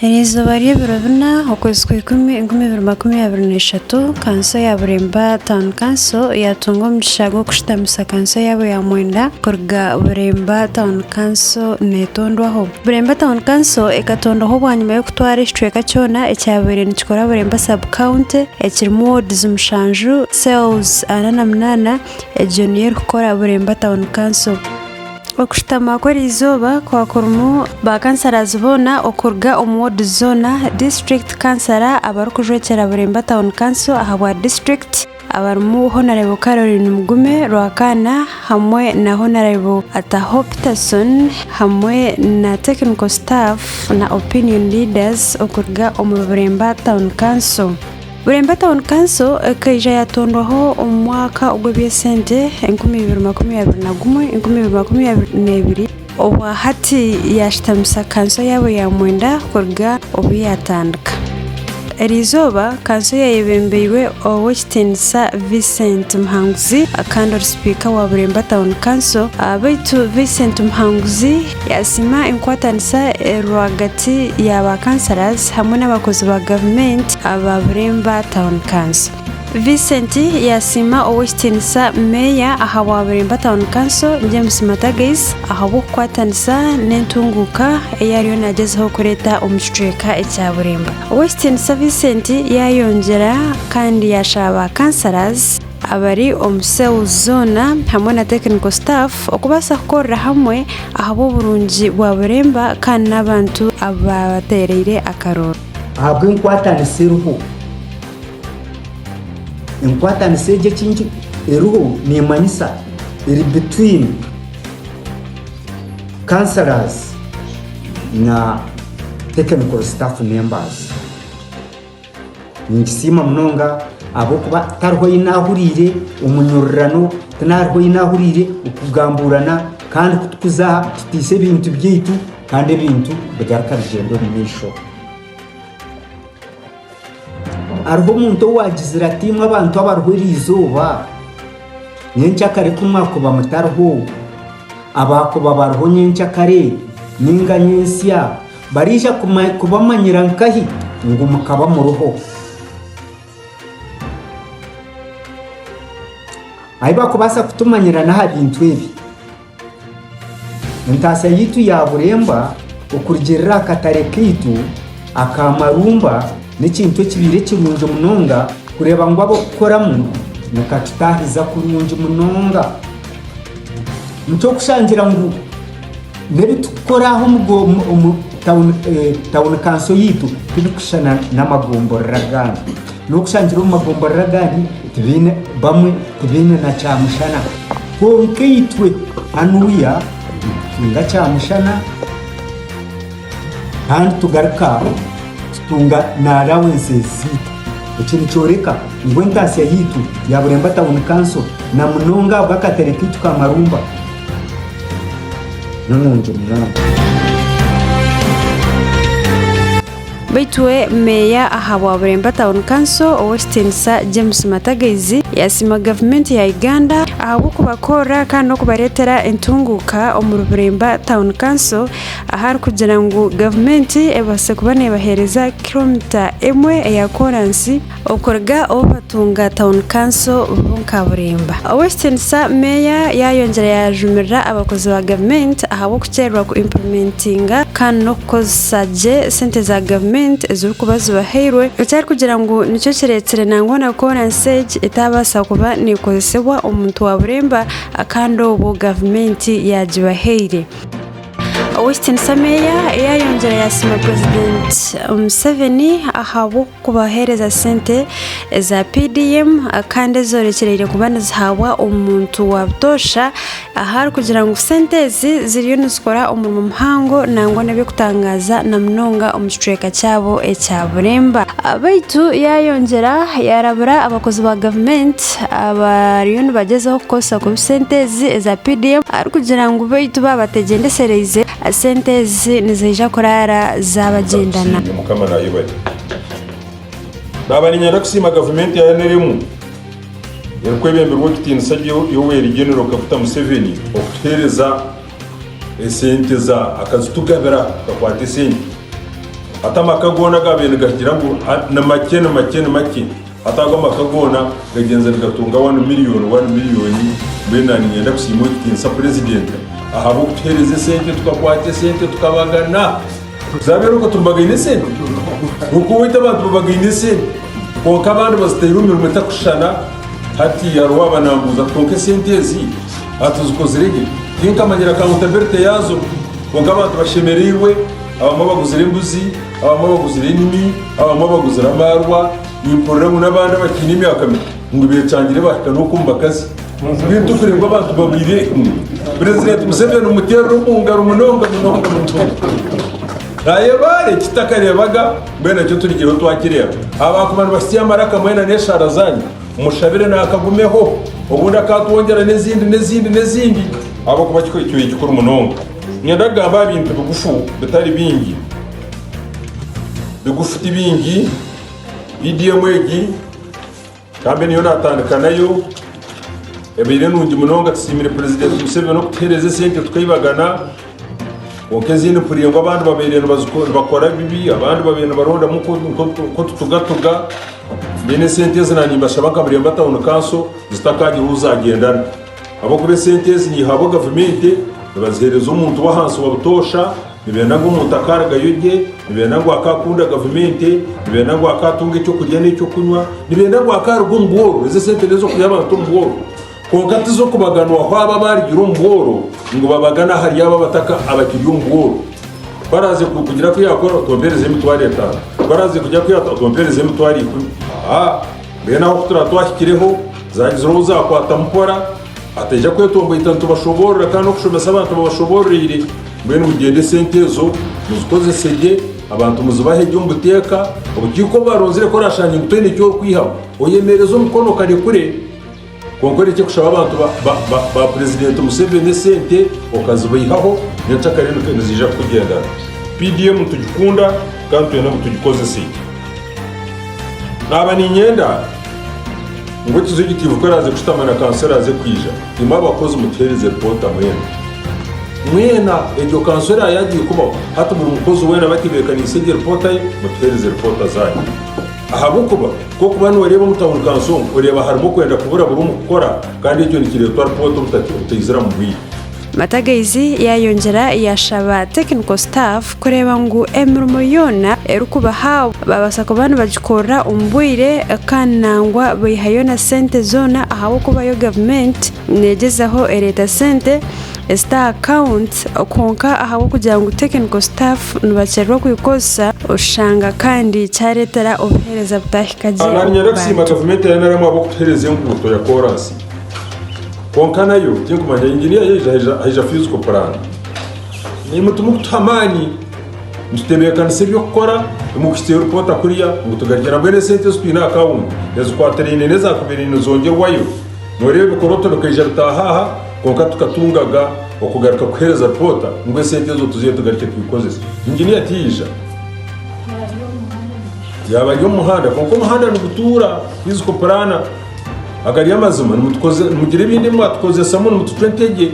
Eryo izooba ry'ebiro bina, okwezi kwa ikumi, enkumi ibiri makumi abiri na ishatu, kanso ya Bureemba Town Council yaatunga omugisha gw'okushutamisa kanso yaabo ya mwenda kuruga Bureemba Town Council neetondwaho. Bureemba Town Council ekatondwaho bwanyima y'okutwara ekicweka kyona ekyabaire nikikora Bureemba Sub County ekirimu wards mushanju, cells ana na munaana, egyo niyo erikukora Bureemba Town Council. Okushutama kw'eri izooba kukaba kurimu ba kansarazi boona okuruga omu woodi zoona, disiturikiti kansara, abarikujwekyera Buremba Town Council ahabwa disiturikiti abarimu Honarebo Caroline Mugume, Rwakaana, hamwe na Honarebo Ataho Peterson hamwe na tekiniko sitaafu na opiniyoni liidazi okuruga omuri Buremba Town Council. Bureemba Town Council ekaija yaatondwaho omu mwaka ogw'eby'esente enkumi ibiri makumi abiri na gumwe, enkumi ibiri makumi abiri n'ebiri obwa hati yaashitamisa kanso yaabo ya mwenda kuruga obu yaatandika. Eri izooba kanso yayebembeirwe Ow'ekitiinisa Vincent Muhanguzi kandi ori sipiika wa Bureemba Town Council, beitu Vincent Muhanguzi, Yasiima enkwatanisa eri rwagati ya ba Councillors hamwe n'abakozi ba gavumenti aba Bureemba Town Council. Vincent yasiima Ow'ekitiinisa Meeya ahabwa Bureemba Town Council James Matagais ahabw'okukwatanisa n'entunguuka ei ariyo nagyezaho kureeta omu kicweka ekya Bureemba. Ow'ekitiinisa Vincent yayongyera kandi yashaba ba Councillors abari omu cells zoona hamwe na technical staff okubaasa kukorera hamwe ahabw'oburungi bwa Buremba kandi n'abantu abaabateereire akarooro. Ahabw'enkwatanisa eriho. Enkwatanisa egi eki nki eriho neemanyisa eri between councillors na technical staff members. Ninkisiima munonga ahabw'okuba tihariho ou naahuriire omunyurirano, tinariho ou naahuriire okugambuurana kandi ku tukuza aha tutaisa ebintu byaitu kandi ebintu bigaruka bigyenda omu maisho. Hariho omuntu owaagizire ati imwe abantu abariho eri izooba, nyenkya kare ku mwakuba mutariho, abaakuba bariho nyenkya kare nainga nyentsya, Baraija kubamanyira nkahi ngu mukaba muriho? Ahi bakubaasa kutumanyira n'aha bintu ebi, Entaasya yaitu ya Buremba okurugiirira aha katare kaitu aka Marumba n'ekintu ekibaire kirungi munonga kureeba ngu ab'okukoramu nikatutaahiza kurungi munonga. Nikyo kushangira ngu. N'ebi turikukora aha omu tauni kanso yaitu tibirikushushana n'amagomborora agandi. N'okushangira omu magomborora agandi bamwe tibaine na kyamushana. Kwonka itwe hanuya nitutunga kyamushana. Kandi tugaruka tutunga na allowances zaitu. Eki nikyoreka ngu entaatsya yaitu ya Bulemba Town Council na munonga ahabw'akatare kaitu ka Marumba n'enungi munonga. Baitu we Meeya ahabwa Bulemba Town Council, Ow'ekitiinisa James Matagaizi, yasiima Gavumenti ya Uganda ahabw'okubakorera kandi n'okubareetera entunguuka omuri Bulemba Town Council ahari kugira ngu gavumenti ebaase kuba neebaheereza kiromita emwe eya kooransi okuruga obu batunga tawuni kanso Bunkaburimba. Ow'ekitiinisa Meeya yaayongyera yaajumirira abakozi ba gavumenti ahabw'okukyererwa ku impulimentinga kandi n'okukozesa gye sente za gavumenti ezirikuba zibahairwe eki arikugira ngu nikyo kireetsire nangwa na kooransi egi etaabaasa kuba neekozesebwa omuntu wa buremba kandi obwo gavumenti yaagibahaire. Ow'ekitinisa Meeya eyayongyire yasiima purezidenti Museveni ahabw'okubahereza sente za PDM kandi ezorekyereire kuba nizihabwa omuntu wa butoosha aha arikugira ngu sente ezi ziriyo nizikora omurimo muhango nangwa neby'okutangaaza na munonga omu kicweka kyabo ekya Buremba beitu yayongyera yarabura abakozi ba gavumenti. abariyo nibagyezaho kukoresa kubi sente ezi eza PDM arikugira ngu beitu babategyendekyereize sente ezi niziija kuraara zabagyendana. Naaba niinyenda kusiima gavumenti ya nrm erikwebemberwa Ow'ekitiinisa Yoweri Genero Kaguta Museveni okutuheereza esente za akazitugabira kakwate esente hati amaka goona gaabaire nigagira ngu ni makye ni makye ni makye. Hati ago amaka goona gagyenze nigatunga wani miriyoni wani miriyoni, mbwenu na niinyenda kusiima Owekitinisa Purezidenti ahabw'okutuhereza esente tukakwata esente tukabagana. Zabeera okwo tubagaine esente, kwonka owaitu abantu babagaine esente kwonka abandi bazitaire omu mirimo etakushushana. Hati hariho owaaba naambuuza ati kwonka esente ezi aha tuzikozire gye? Tinkamanyire akawuntabirite yaazo. Kwonka abantu bashemereirwe, abamwe baguzire embuzi, Abamwe baguzire enimi, abamwe baguzire amaarwa, nimpurira ngu n'abandi abakiine emyaka mito ngu becangire bahika n'okwo omu bakazi. Beitu kureeba abantu babaire kumwe, Purezidenti Museveni omuteerire omu ngaro munonga munonga munonga. Naayeba are eki takareebaga, mbwenu ekyo turigireho twakireeba. Abaakuba nibasitsya amaraka mwena n'eshaara zaanyu, mushabire naakagumeho, obundi akaatwongyera n'ezindi n'ezindi n'ezindi ahabw'okuba kikaba kikuru munonga. Niinyenda kugamba aha bintu bigufu bitari bingi. Bigufu ti bingi. Vidiyo emwe egi, nkambe niyo naatandika nayo, ebaire nungi munonga. Tusiimire Purezidenti Museveni okutuheereza esente tukaibagana. Kwonka ezindi mpurire ngu abandi babaire nibakora bibi, abandi babaire nibarondamu nk'otutugatuga. Mbwenu esente ezi naanye nimbashaba nka muremba tawuni kanso zitakaagire ou zaagyendana. Ahabw'okuba esente ezi niihabwa gavumenti, nibaziheereza omuntu w'ahansi wa butoosha, nibeenda ngu omuntu akaarugayo gye, nibeenda ngu akaakunda gavumenti, nibeenda ngu akaatunga eky'okurya n'eky'okunywa, nibeenda ngu akaaruga omu bworo, ezi esente n'ez'okuhya abantu omu bworo, kwonka ti z'okubaganwaho abo abaarugire omu bworo ngu babagane ahari abo abataka abakiri omu bworo. Ku araaze kugira ku yaakora, otompereze emitwaro etaano, ku araaze kugira ku yaata, otompereze emitwaro ikumi. Haa! Mbwenu aho ku turaba twahikireho, zaagizireho ou zaakwatamu mpora, ataija kwetomboita nitubashoboorora kandi n'okushomesa abantu babashoboororeire. Mbwenu mugyende esente ezo muzikozese gye, abantu muzibahe gye omu buteeka, obukiiko obu baronzire ku oraashange ngu toine eki orikwihamu, oyemeereze omukono okarekure. Kwonka orekye kushaba abantu ba Purezidenti Museveni esente okazibaihaho, n'encakare niziija kukugendana. PDM nitugikunda kandi twena ngu tugikozese. Naaba niinyenda ngu Ekizigitivu ku araaze kushutama na Kanswera aze kwija, imwe abakozi mutuheereze ripoota mwena. Mwena, egyo Kanswera yaagira ekubaho, hati buri mukozi weena batebeekaniise egyo ripoota ye, mutuheereze ripoota zaanyu. Ahabw'okuba. Nk'okuba nooreeba omu tauni kansi omu, oreeba harimu okwenda kubura buri omu kukora kandi ekyo nikireetwa ripoota obutati obutaizira mu bwire. Matagaizi yaayongyera yaashaba technical staff kureeba ngu emirimo yoona erikubahabwa baabaasa kuba nibagikorera omu bwire kandi nangwa baihayo na sente zoona ahabw'okubayo gavumenti neegyezaho ereeta sente ezita aha akawunti kwonka ahabw'okugira ngu tekiniko sitaafu nibakyererwa kugikozesa oshanga kandi kyareetera obuheereza butahika gye omu Nanyara kusiima bantu. gavumenti ya NRM ahabw'okutuhereza enguuto ya koraasi kwonka nayo tinkumanya inginiya yaija haija haija physical plan. Nimutu mukutuha amaani nitutebeekanisa eby'okukora imwe kuhitsya ripoota kuriya ngu tugarukye nabwenu esente ezi twine aha akawunti ezikwatiraine n'ezakubaire nizongyerwayo noreeba ebikorooto bikaija bitaaha aha Kwonka tukatungaga okugaruka kuhereza twota ngu esente ezo tuzihe tugarike twikozese. Engineer tiyaija. Yaaba ari omu muhanda. Kwonka omuhanda nigutuura. Twizi kupuraana. Agari amazima. Nimugira ebindi ebi mwatukozesamu nimutucwa entegye.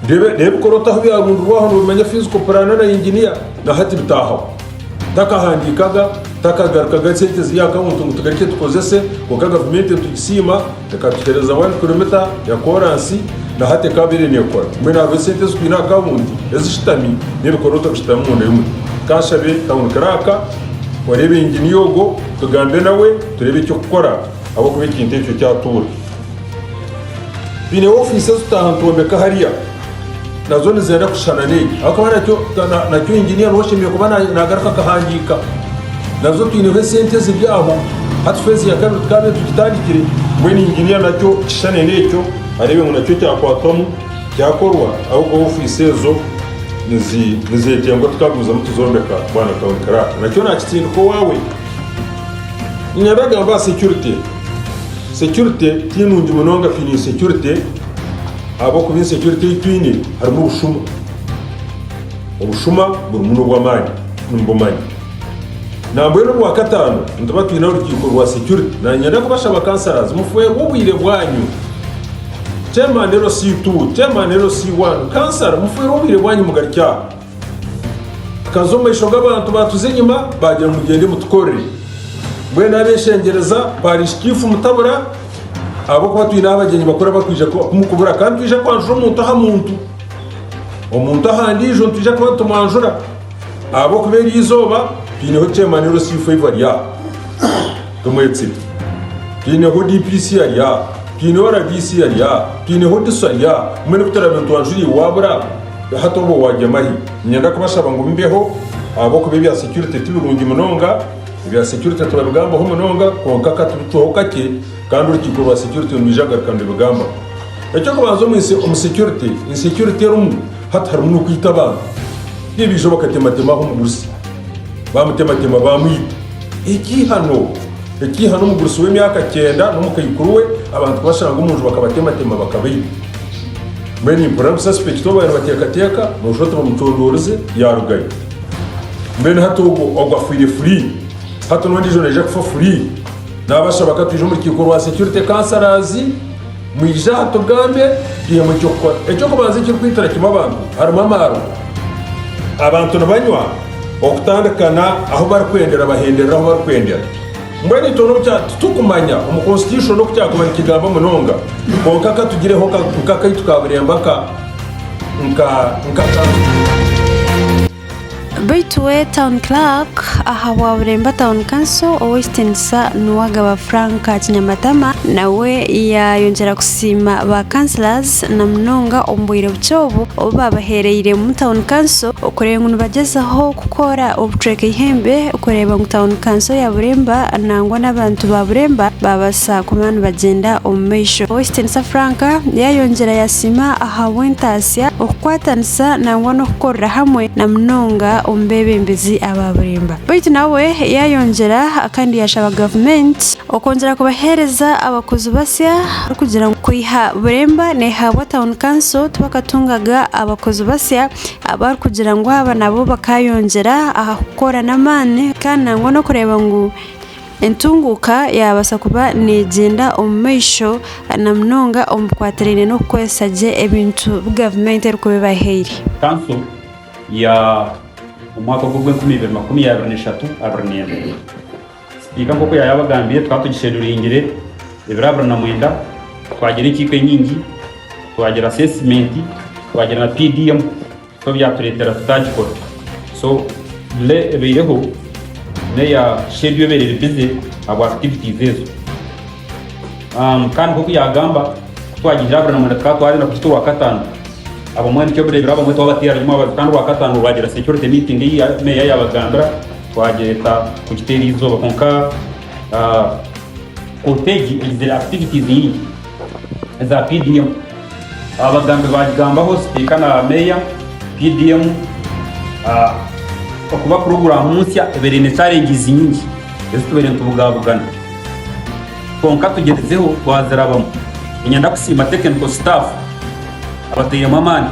Reeba ebikorooto ahu byarundirwaho nobimanya fiizi kupuraana na engineer. Nahati bitaahaho. Takahandiikaga, takagarukaga sente ziri aha kawunti ngu tugarike tukozese. Kwonka gavumenti nitugisiima. Reka tuheereze aha wani kiromita ya kooransi na hati ekaabaire neekora. Mbwenu hariho esente ezi twine aha kaawunti ezishutami n'ebikoroto bishutami omunda y'omuti. Ka nshabe kawunikire aka, oreebe inginiya ogwo, tugambe nawe tureebe eky'okukora ahabw'okuba ekintu ekyo kyatuura. Twine ofiisi ezi tutaaha nitwombeka hariya nazo nizenda kushushana n'egi ahakuba nakyo nakyo engineer niwe oshemeire kuba na- nagaruka akahandiika nazo twineho esente eziri aho hati fezi ya kabiri tukaba tugitandikire mbwenu engineer nakyo kishushane n'ekyo areebe ngu nakyo kyakwatwamu kyakorwa ahakuba ofiisi ezo nizi- nizetengwa tukagumizamu tuzombeka bwana town clerk nakyo nakitsindika owaawe ninyenda kugamba aha security security tinungi munonga twine insecurity Ahabw'okuba ensi egi ei twine harimu obushuma. Obushuma burimu n'obw'amaani, nimbumanya. Nambwenu Orwakataano nituba twine orukiiko rwa security. Nanyenda kubashaba councillors mufweerwe obwire bwanyu. Chairman LC2, Chairman LC1, Councillor mufweerwe obwire bwanyu mugarukye aha. Tukaza omu maisho g'abantu baatuza enyima, baagira ngu, Mugyende mutukorere. Mbwenu abeeshengyereza baarishika ifu mutabura, ahabw'okuba twine ahu abagyenyi bakura barikwija kumukubura, kandi twija kwanjura omuntu aha muntu, omuntu aha ndiijo, nitwija kuba nitumwanjura, ahabw'okuba eri izooba twineho kyemaniro C5 ari aha, tumwetsire, twineho DPC ari aha, twineho RDC ari aha, twineho DISO ari aha, mbwenu ku turaabe nitwanjura iwe waabura? Hati obwo wagyemahi? Niinyenda kubashaba ngu mumbeho ahabw'okuba ebya securite ti birungi munonga. Ebya securite turabigambaho munonga kwonka ka tubicweho kakye kandi orukiiko rwa securite nirwija kugaruka nirubigambaho. Eky'okubanza omu nsi omu securite, insecurite erimu hati harimu n'okwita abantu. Nibaija bakatematema aho omugurusi, baamutematema baamwita. Ekiihano! Ekiihano omugurusi w'emyaka kyenda n'omukaikuru we abantu kubashanga omu nju bakabatematema bakabaita. Mbwenu nimpurira busa sipekita obu babaire bateekateeka noshusha oti bamucondoorize yaarugayo. Mbwenu hati ogwo ogwo afiire furi, hati n'ondiijo naija kufa furi. Naabashaba ka twije omu rukiiko rwa security councillors, mwije aha tugambe twihemu eky'okukora. Eky'okubanza ekirikwitira kimwe abantu harimu amaarwa. Abantu nibanywa okutandikana ahu barikwendera bahenderera ahu barikwendera. Mbwenu itwe n'obu kyaaba titukumanya omu Constitution oku kyakuba nikigamba munonga, kwonka ka tugireho nk'akaitu ka buremba ka nk'akantu. Baitu we Town Clerk aha bwa Buremba Town Council, Ow'ekitinisa Nuwagaba Frank Kinyamatama, nawe yayongyera kusiima ba Councillors, na munonga omu bwire bukye obu obu baabaheereire omu Town Council okureeba ngu nibagyezaho kukora obucweka eihembe kureeba ngu Town Council ya Buremba nangwa n'abantu ba Buremba baabaasa kuba nibagyenda omu maisho. Ow'ekitiinisa Frank yaayongyera yaasiima ahabw'entaasya, okukwatanisa nangwa n'okukorera hamwe na munonga omu beebembezi aba Buremba. Beitu nawe yaayongyera kandi yaashaba Gavumenti, Okwongyera kubaheereza abakozi basya kugira ngu kwiha Buremba neehabwa Town Council tibakatungaga abakozi basya abarikugira ngu aba nabo bakaayongyera aha kukora n'amaani kandi nangwa n'okureeba ngu entunguuka yaabaasa kuba neegyenda omu maisho na munonga omu bikwatiraine n'okukoresa gye ebintu ebi gavumenti erikuba ebahaire. Kanso ya omwaka ogw'enkumi ibiri makumi abiri na ishatu abiri n'ebiri. Sipika nk'oku yaaba yabagambire, tukaba tugishenduringire ebiro abiri na mwenda, twagira enkiiko enyingi, twagira asesimenti, twagira na PDM, so byatureetera tutaagikora. So delay ebaireho n'eya schedule ebaire eri busy ahabwa activities ezo. Um, Kandi nk'oku yaagamba, ku twagiihire abiri na mwenda tukaba twarenda kugita owa kataano. Abamwe nikyo bireebire abamwe twabateera nyima bati kandi Rwakataano rwagira security meeting ei Meeya yaabagambira twagyeta kugiteera eizooba kwonka kooti egi egizire activities nyingi eza PDM. Abagambi baagigambaho sipiika na Meeya, PDM okuba kurugura aha muntsya ebaire eine challenges nyingi ezi tubaire nitubugaabugana. Kwonka tugyerizeho twazirabamu. Niinyenda kusiima tekiniko sitaafu abatairemu amaani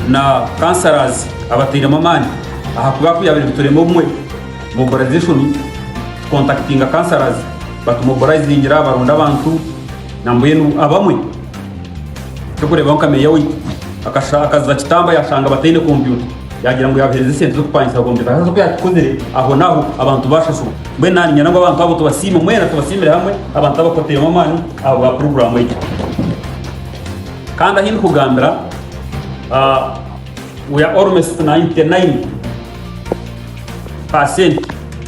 na kansarazi abatairemu amaani ahakuba ku yaabaire niturema obumwe, mobilization, tukontakitinga kansarazi batumobilizingira baronda abantu nambwenu abamwe eky'okureebaho nka meeya waitu akaza kitamba yaashanga bataine kompyuta yaagira ngu yaabaheereza esente z'okupangisa kompyuta haza ku yaakikozire, ahonaaho abantu baashashurwa. Mbwenu naanye niinyenda ngu abantu abo tubasiime mwena, tubasiimire hamwe, abantu abo kutairemu amaani ahabwa puroguraamu egyo. Kandi ahi ndikugambira, ah, we are almost 99 percent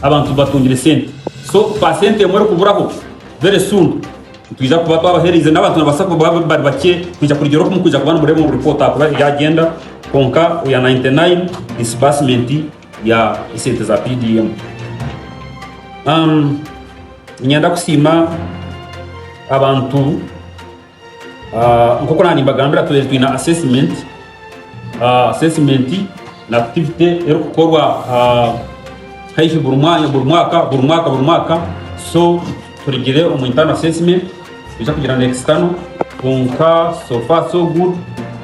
abantu batungire sente. So percent emwe erikuburaho very soon nitwija kuba twabahereize n'abantu nibabaasa kuba bari bakye kwija kurigyera oku murikuba nimureeba omu report ahakuba ebyagenda, kwonka we are 99 disbursement ya esente za PDM. Um, nyenda kusiima abantu uh, nk'oku nandi mbagambira tubaire twine assessment uh, assessment na activity erikukorwa uh, haihi buri mwanya buri mwaka buri mwaka buri mwaka so turigire omu internal assessment Noija kugira ngu ekisitano kwonka so far so good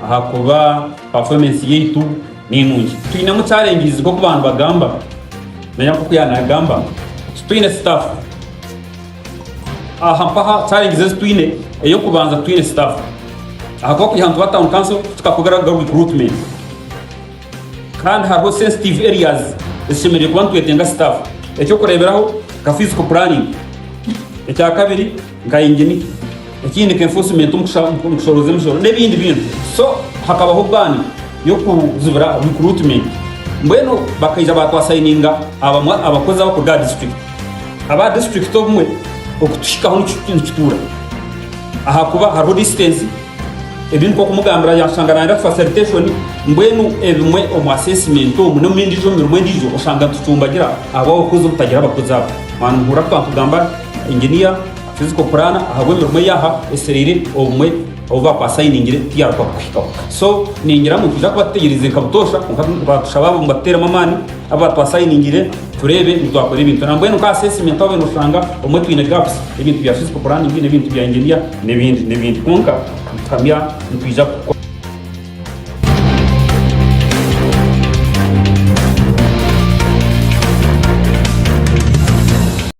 ahakuba performance yaitu ninungi. Twinemu challenges nk'oku bantu bagamba nanye nk'oku yanagamba titwine staff. Aha mpaha challenges ezi twine ey'okubanza titwine staff ahakuba kwiha nituba town council tutakora recruitment. Kandi hariho sensitive areas ezisemereire kuba nitwetenga staff. Ekyokureberaho nka physical planning, ekya kabiri nka engineer, ekindi nka enforcement omu kushoroza emisoro n'ebindi bintu. So hakabaho ban y'okuzibira recruitment. Mbwenu bakaija ba twasayininga abamwe abakozi abakuruga aha district. Aba district obumwe okutuhikaho nikituura ahakuba hariho distance Ebi nikwo kumugambira yaakushanga naayenda kufa sanitation, mbwenu ebimwe omu assessment omu n'omu endiijo mirimo endiijo oshanga nitucumbagira ahabw'abakozi obutagira abakozi abo. Mwaaba nimuhurira twaba nitugamba engineer, physical planner ahabw'emirimo ei yaaha esereire obumwe obu baaba baasainingire tiyaaruga kukuhikaho. So ningira ngu nitwija kuba tutegyereize nka butoosha kwonka nibatushaba ngu batuteeremu amaani. Aba twasayiningire tureebe ngu twakora ebintu na mbwenu nk'aha assessment twabire noshanga obumwe twine gaps, ebintu bya physical planning n'ebintu bya engineer n'ebindi n'ebindi kwonka nituhamya nitwija kukora.